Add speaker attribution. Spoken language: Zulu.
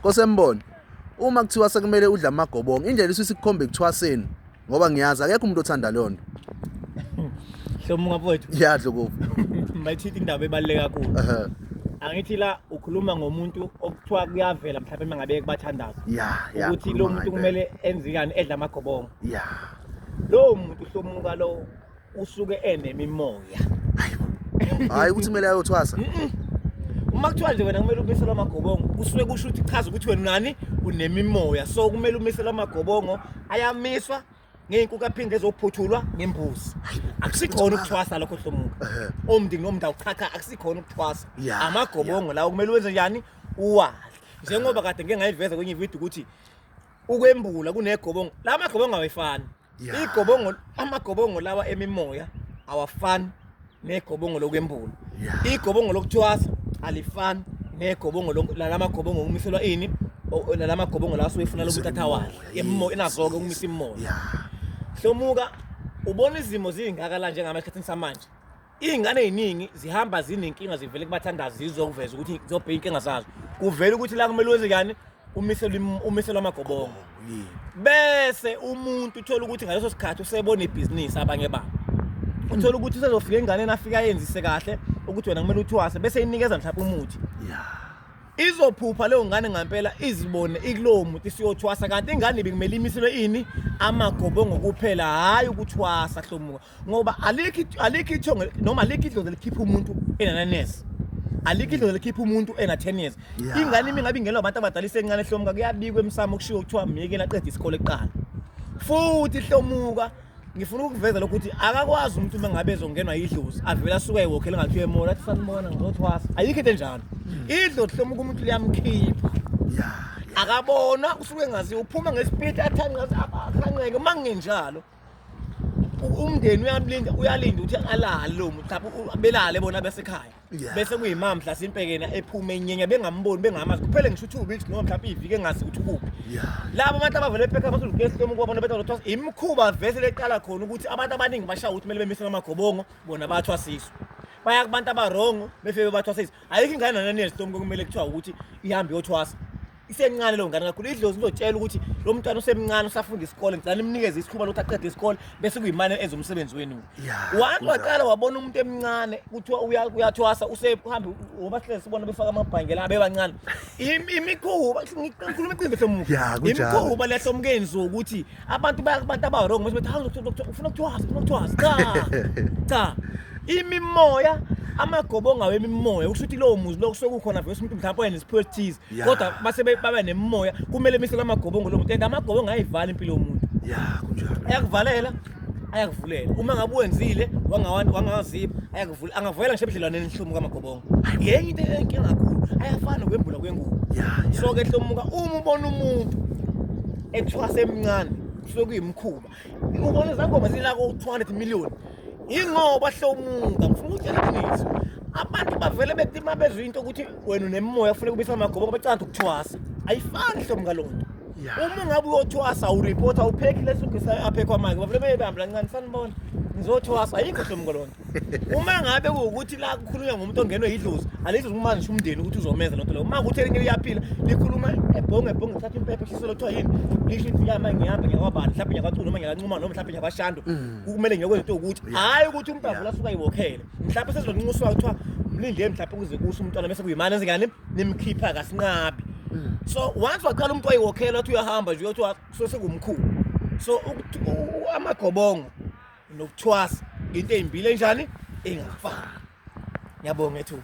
Speaker 1: Kosembono uma kuthiwa sekumele udle amagobongo indlela isisi kukhombe kuthwaseni ngoba ngiyazi akekho umuntu othanda leyo nto
Speaker 2: hlomuka mfowethu ya dlokovu
Speaker 1: mayithithi indaba
Speaker 2: ebaluleke kakhulu angithi la ukhuluma ngomuntu okuthiwa kuyavela mhlawumbe uma ngabe kubathandaza ya ya ukuthi lo muntu kumele enzikani edla amagobongo ya lowo muntu hlomuka lowo usuke enemimoya
Speaker 1: hayi ukuthi kumele ayothwasa uma
Speaker 2: kuthiwa nje wena kumele umisele amagobongo kusuke kusho ukuthi chaza ukuthi wena nani unemimoya so kumele umisele amagobongo ayamiswa ngey'nkuku aphinde ezophuthulwa ngembuzi akusikhona ukuthwasa lokho hlomuka omndini nomndawo cha cha akusikhona ukuthwasa amagobongo lawo kumele wenze njani uwadle njengoba kade ngike ngayiveza kwenye ividiyo ukuthi ukwembula kunegobongo la magobongo awayifani yeah. igobongo amagobongo lawa emimoya awafani negobongo lokwembula yeah. igobongo lokuthwasa alifani negobongo lalamagobongo okumiselwa ini lalamagobongo lawa soyifuna lokuthi athawahle emimoya inazoke ukumisa imimoya yeah. hlomuka ubona izimo zingaka la njengama esikhathini samanje Iy'ngane ey'ningi zihamba zinenkinga zivele kubathandazi zizokuveza ukuthi zobheka inkinga zazo. Kuvela ukuthi la kumele wenze kani umiselo im- umiselo amagobongo. Yini? Bese umuntu uthola ukuthi ngaleso sikhathi usebona ibhizinisi abanye babo. Uthola ukuthi usezofika enganeni afika ayenzise kahle ukuthi wena kumele uthwase bese inikeza mhlawumbe umuthi. Ya. izophupha leyo ngane ngampela izibone ikulowo muntu isiyothwasa kanti ingane ibikumele imiselwe ini amagobongo kuphela hhayi ukuthwasa hlomuka ngoba alikho alikho ithongo noma alikho idlozi likhipha umuntu enananesi alikho idlozi likhipha umuntu ena 10 years Yeah. ingane imi ngabe ingelwa abantu abadala isencane hlomuka kuyabikwa emsamo kushiwo kuthiwa myekela qeda isikole kuqala futhi hlomuka ngifuna ukuveza lokhu ukuthi akakwazi umuntu uma ngabe ezongenwa yidlozi avele asuke ewokhele ngathiwa emona athi sanibona ngizothwasa ayikho into enjalo idlozi hlomuka umuntu liyamukhipha Yeah. akabona usuke engaziwa uphuma ngesipiti athanqeke uma kungenjalo umndeni uyalinda uyalinda ukuthi alale lo muntu lapho u- belale bona besekhaya Yeah. bese kuyimama mhlasimpe yena ephume enyenya bengamboni bengamazi kuphele ngisho two weeks noma mhlawumbe ivike engazi ukuthi ukuphi Yeah. labo abantu abavele ephekha basolugesi lomu kwabona betha ukuthi imikhuba vese leqala khona ukuthi abantu abaningi bashaya ukuthi kumele bemisele amagobongo bona bathwasiswe baya kubantu abarongo befike bathwasiswe ayikho ingane nananiyesitomu kumele kuthiwa ukuthi ihambe yothwasa isencane leyo ngane kakhulu idlozi lizotshela ukuthi lo mntwana usemncane usafunda isikole ngicela nimnikeze isikhuba lokuthi aqede isikole bese kuyimane enza umsebenzi wenu one waqala wabona umuntu emncane kuthiwa uyathwasa usehambe wobasihlezi sibona befaka amabhangela abebancane imikhuba ngikhuluma iqiniso hlomufi imikhuba lehlo mkenzi wokuthi abantu abantu abarong mase bethi ufuna ukuthwasa ufuna ukuthwasa cha cha imimoya amagobo ngawo emimoya ukusho ukuthi lowo muzi loku sokukhona vese umuntu mhlawumbe oyenesiphiwo esithize Yeah. kodwa mase be- baba nemimoya kumele misele amagobongo lo muntu and amagobongo ayivala impilo yomuntu ya kunjalo ayakuvalela ayakuvulela uma ngabe wenzile wangawa- wangawazipha ayakuvulela angavulela ngisho ebudlelwaneni nhlomuka amagobongo yenye into enkinga kakhulu ayafana nokwembula kwengubo ya ya so ke hlomuka uma ubona umuntu ethwasa emncane kusuke kuyimkhuba Ubona izangoma zinako 200 million. Ingoba hlomuka ngifuna ukutshela iqiniso. Abantu bavele bethi uma bezwe into ukuthi wena unemoya ufuna kubisa amagobo ngoba icanda ukuthwasa. Ayifani hlomuka lo nto. Uma ngabe uyothwasa ureporter uphekile sugisayo aphe kwamake. Bavele beyibamba lancane sanibona. Ngizothwasa ayikho hlomuka lo nto. uma ngabe kuwukuthi la kukhulunywa ngomuntu ongenwe yidlozi alidlozi uma ngisho umndeni ukuthi uzomenza lento leyo uma ukuthi elinye liyaphila likhuluma ebhonge ebhonge lithatha impepha eshiselo kuthiwa yini lisho ithi yama ngiyapha ngiyakwabani mhlawumbe ngiyakacula noma ngiyakancuma noma mhlawumbe ngiyabashando mm. kumele ngiyokwenza into yokuthi hhayi ukuthi umdavu lasuka yiwokhele mhlawumbe sezoncinqusiwa kuthiwa mlinde mhlawumbe kuze kuse umntwana bese kuyimani enzekani nimkhipha kasinqabi mm. so once waqala umuntu wayiwokhela wathi uyahamba nje uyothi sosengumkhulu so amagobongo nokuthwasa into ezimbili enjani engafani ngiyabonga ethuba